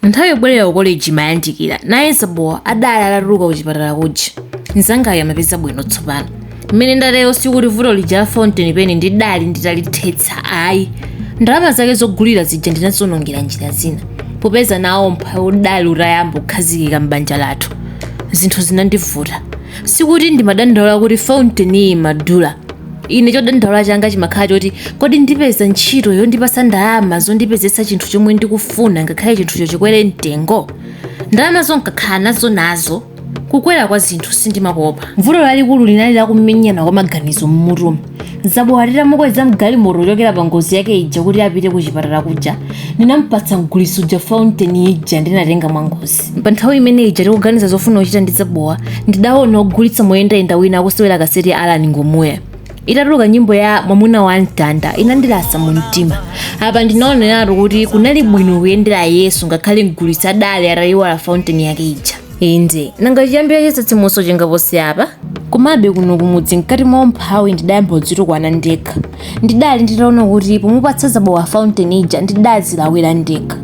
Nthawi yobwerera ku koleji imayandikira. Naye Zabowa adali atatuluka kuchipatala kuja. Mnzangayo amapeza bwino tsopano. Mmene ndatero sikuti vuto lija la fountain pen ndidali nditalithetsa ayi. Ndalama zake zogulira zija ndinaziwonongera njira zina. Popeza nawo umphawi udali utayamba kukhazikika m'banja lathu, zinthu zinandivuta. Sikuti ndimadandaula kuti fountain iyi imadula. ine chodandaula changa chimakhala choti kodi ndipeza ntchito yondipasa ndalama zondipezetsa chinthu chomwe ndikufuna ngakhale chinthucho chikwere mtengo ndalama zo n'kakhala nazo nazo kukwera kwa zinthu sindimakopa vuto lalikulu linali lakumenyana kwa maganizo mmutumu Zabowa titamukweza mgalimoto kuchokera pa ngozi yake ija kuti apite ku chipatala kuja ndinampatsa mgulitsi uja fountain ija ndinatenga mwa ngozi pa nthawi imene ija tikuganiza zofuna kuchita ndi Zabowa ndidaona ogulitsa moyendayenda wina akusewera kaseti ya alan Ngumuya itatuluka nyimbo ya mwamuna wa mtanda inandilasa mu mtima apa ndinaoneratu kuti kunali bwino kuyendera yesu ngakhale mgulitsi adali atayiwala fountain yake ija inde nanga chiyambira chitsitsimutso chingaposi apa komabe kuno kumudzi mkati mwa umphawi ndidayamba kudzitukwana ndekha ndidali nditaona kuti pomupatsa zabowa fountain ija ndidazilawira ndekha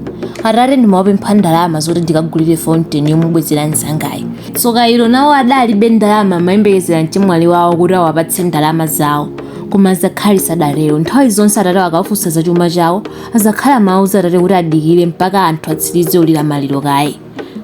atate ndimawapempha ndalama zoti ndikagulire fountain yomubwezera mzangayo tsoka ilo nawo adalibe ndalama amayembekezera mchemwali wawo kuti awapatse ndalama zawo koma azakhali sadatero nthawi zonse atate akawafunsa za chuma chawo azakhali amauza atate kuti adikire mpaka anthu atsirize kulira maliro kaye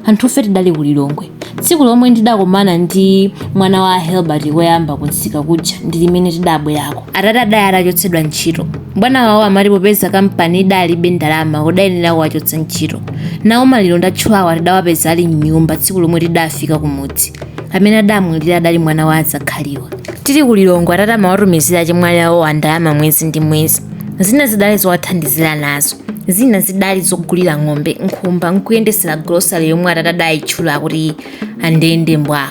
Anthufe tidali ku Lilongwe. Tsiku lomwe ndidakomana ndi mwana wa a Helbert koyamba kumsika kuja ndi limene tidabwerako. Atate adali atachotsedwa ntchito. Bwana wawo amati popeza kampani idalibe ndalama kudayenera kuwachotsa ntchito. Nawo maliro ndatchulawa tidawapeza ali m'nyumba tsiku lomwe tidafika kumudzi. Amene adamwalira adali mwana wa azakhaliwa. Tili ku Lilongwe atate amawatumizira achemwali awowa ndalama mwezi ndi mwezi. zina zidali zowathandizira nazo zina zidali zogulira ng'ombe nkhumba nkuyendesera grosale yomwe atate adayitchula kuti andende mbwa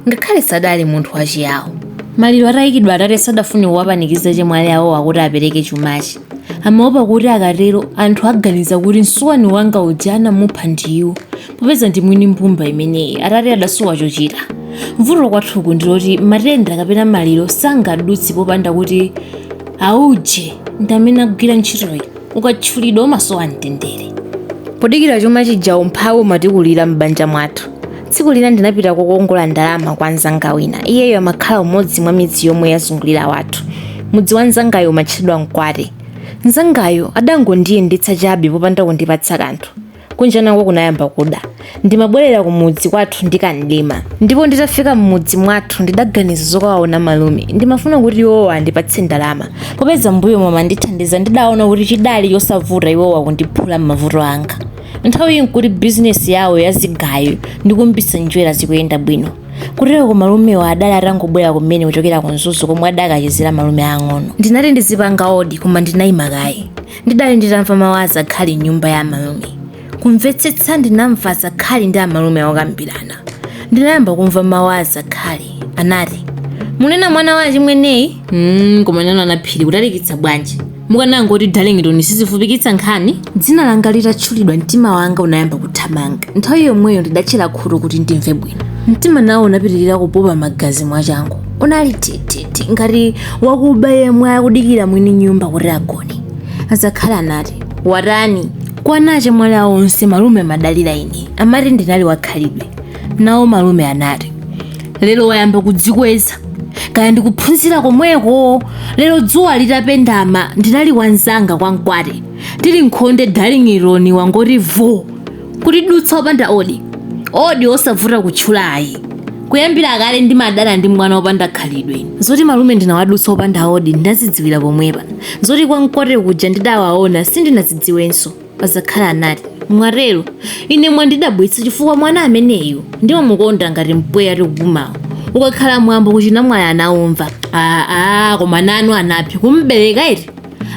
ngakhale sadali munthu wachiyawo maliro atayikidwa atate sadafune kuwapanikiza achemwali awowa kuti apereke chumachi amaopa kuti akatero anthu aganiza kuti msuwani wanga uja anamupha ndiwo popeza ndi mwini mbumba imeneyi atate adasowa chochita vuto kwathuku ndiloti matenda kapena maliro sangadutse popanda kuti auje ndi amene agwira ntchitoyi ukatchulidwa umasowa mtendere podikira chuma chija umphawi umatikulira m'banja mwathu tsiku lina ndinapita kokongola ndalama kwa mzanga wina iyeyo amakhala umodzi mwa midzi yomwe yazungulira wathu mudzi wa mzangayo umatchedwa mkwate mzangayo adangondiyendetsa chabe popanda kundipatsa kanthu Kunja nako kunayamba kuda. Ndimabwerera kumudzi kwathu ndi kamdima. Ndipo nditafika m'mudzi mwathu ndidaganiza zokawaona malume. Ndimafuna kuti iwowa andipatse ndalama. Popeza m'mbuyomo amandithandiza ndidaona kuti chidali chosavuta iwowa kundiphula m'mavuto anga. Nthawiyi n'kuti bizinesi yawo ya zigayo ndi kuumbitsa njwera zikuyenda bwino. Kuteroko malumewo adali atangobwera kumene kuchokera ku Mzuzu komwe adakachezera malume aang'ono. Ndinati ndizipanga odi koma ndinaima kaye. ndidali nditamva mawu a azakhali m'nyumba ya amalume kumvetsetsa ndinamva azakhali ndi amalume akukambirana ndinayamba kumva mawu a azakhali anati munena mwana wa achimweneyi mm, koma nanu anaphiri kutalikitsa bwanji mukanangoti darlington sizifupikitsa nkhani dzina langa litatchulidwa mtima wanga unayamba kuthamanga nthawi yomweyo ndidatchera khutu kuti ndimve bwino mtima nawo unapitirira kupopa magazi mwachangu unali tete Ti- ngati wakuba yemwe akudikira mwini nyumba kuti agone azakhali anati watani kwa ana achemwali awo onse malume amadalira ine amati ndinali wakhalidwe nawo malume anati lero wayamba kudzikweza kaya ndikuphunzira komweko lero dzuwa litapendama ndinali kwa mnzanga kwa mkwate tili m'khonde darlington wangoti vo kutidutsa opanda odi odi osavuta kutchulayi kuyambira kale ndimadana ndi mwana opanda khalidwe zoti malume ndinawadutsa opanda odi ndinazidziwira pomwepa zoti kwa mkwate kuja ndidawaona sindinazidziwenso apa azakhali anati mwatero ine mwandidabwitsa chifukwa mwana ameneyu ndimamukonda ngati mpweya tikupumawu ukakhala mwambo kuchinamwali anaumva aa koma nanu anaphi kumbereka iti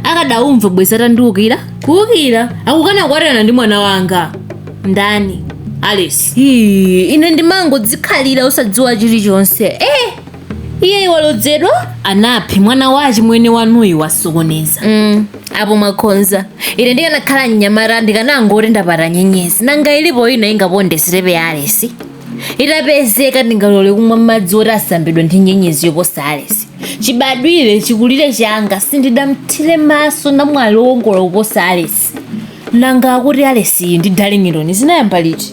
akadaumva bwezi atandiukira kuukira akukana kukwatirana ndi mwana wanga ndani alice Hii, ine ndimangodzikhalira osadziwa chilichonse eh iye walodzedwa anaphi mwana wa achimwene wanuyi wasokoneza mm, apo mwakhonza ine ndikanakhala mnyamata ndikanangoti ndapata nyenyezi nanga ilipo ina ingaponde sitepe ya alesi itapezeka ndingalole kumwa madzi oti asambidwa ndi nyenyezi yoposa alesi chibadwire chikulire changa sindidamthire maso namwali wokongola kuposa alesi nanga akuti alesiyi ndi darlington zinayamba liti